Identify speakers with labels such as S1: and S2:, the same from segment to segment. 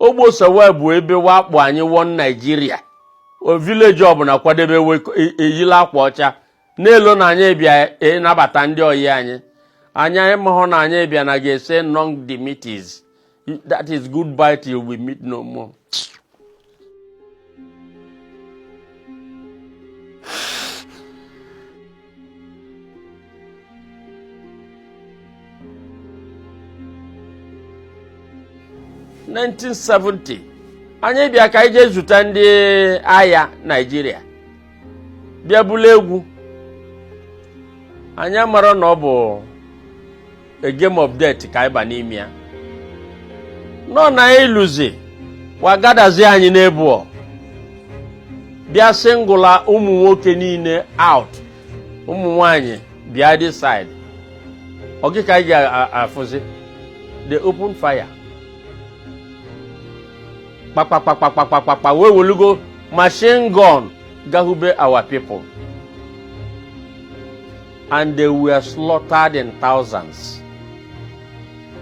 S1: Ogbeosowa bụ ebe wa kpọ anyị One Naịjirịa village ọbụla kwadebe eyila akwa ọcha na-elo na anyị bịa ịnabata e ndị oyi anyị anyị amahọ na anyị bịa na ga-ese Nunc Dimittis that is goodbye till we meet no more 1970 anyị bịa ka anyị jee zute ndị agha Naịjirịa bịa bulu egwu anyị amara na ọ bụ a game of death ka anyị ba n'ime ya nọ na anyị luzi wa gadazi anyị n'ebụọ bịa singụla ụmụ nwoke niile out ụmụ nwanyị bịa this side ọ gị ka anyị ga-afụzi they open fire kpakpakpakpakpakpakpa wa welugo machine gun gbagbube our people and they were slaughtered in thousands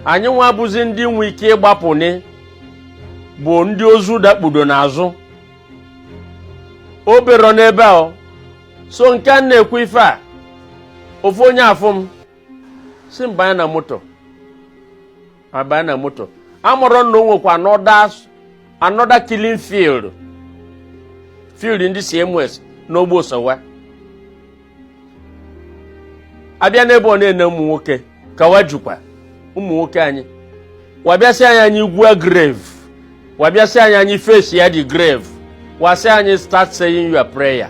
S1: anyị nwa bụzi ndị nwe ike ịgbapụni bụ ndị ozu dakpudo n'azụ o berọ n'ebe a sọ nke anyị na-ekwu ife a ofu onye afụ m sị m banye na moto abaa na moto amarọ na o nwekwa another killing field field ndị CMS n'Ogbeosowa abịa n'ebe ọ na-ene ụmụ nwoke ka wa jukwa ụmụ nwoke anyị wa bịa sị anyị anyị gwuo grave wa bịa sị anyị anyị face ya the grave wa sị anyị start saying your prayer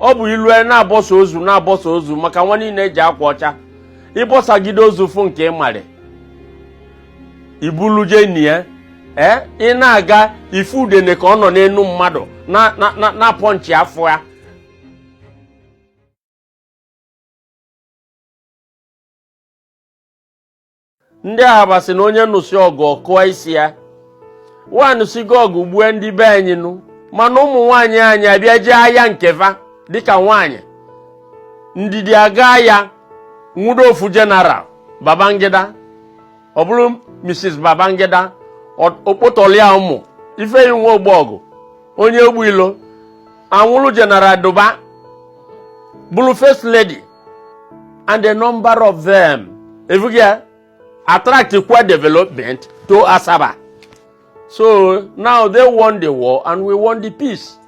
S1: ọ bụ i lu e na-abọsa ozu na-abọsa ozu maka wa niile eji akwa ọcha ị bọsagide ozu fụ nke ị marị i bulu je nie ya ee ị na-aga ị fụ udene ka ọ nọ n'enu mmadụ na-apọ nchi afọ ya ndị Ahaba sị na onye nụsị ọgụ ọ kụọ isi ya wa nụsigo ọgụ gbue ndị be anyị nụ mana ụmụ nwaanyị anyị abịa jee ahịa nke fa dịka nwaanyị Ndidi aga ya nwudo ofu General Babangida ọ bụrụ Mrs Babangida okpotọlia ụmụ Ifeyinwa Ogbogu onye Ogbeilo anwụrụ General Duba bụrụ first lady and the number of them efughị ya attract kwa development to Asaba so now they won the war and we won the peace.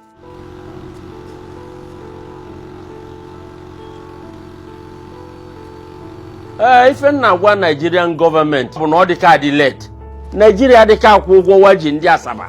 S1: ee ife m na-agwa Nigerian government bụ na ọ dị ka adị late Nigeria dị ka akwụ ụgwọ wa ji ndị Asaba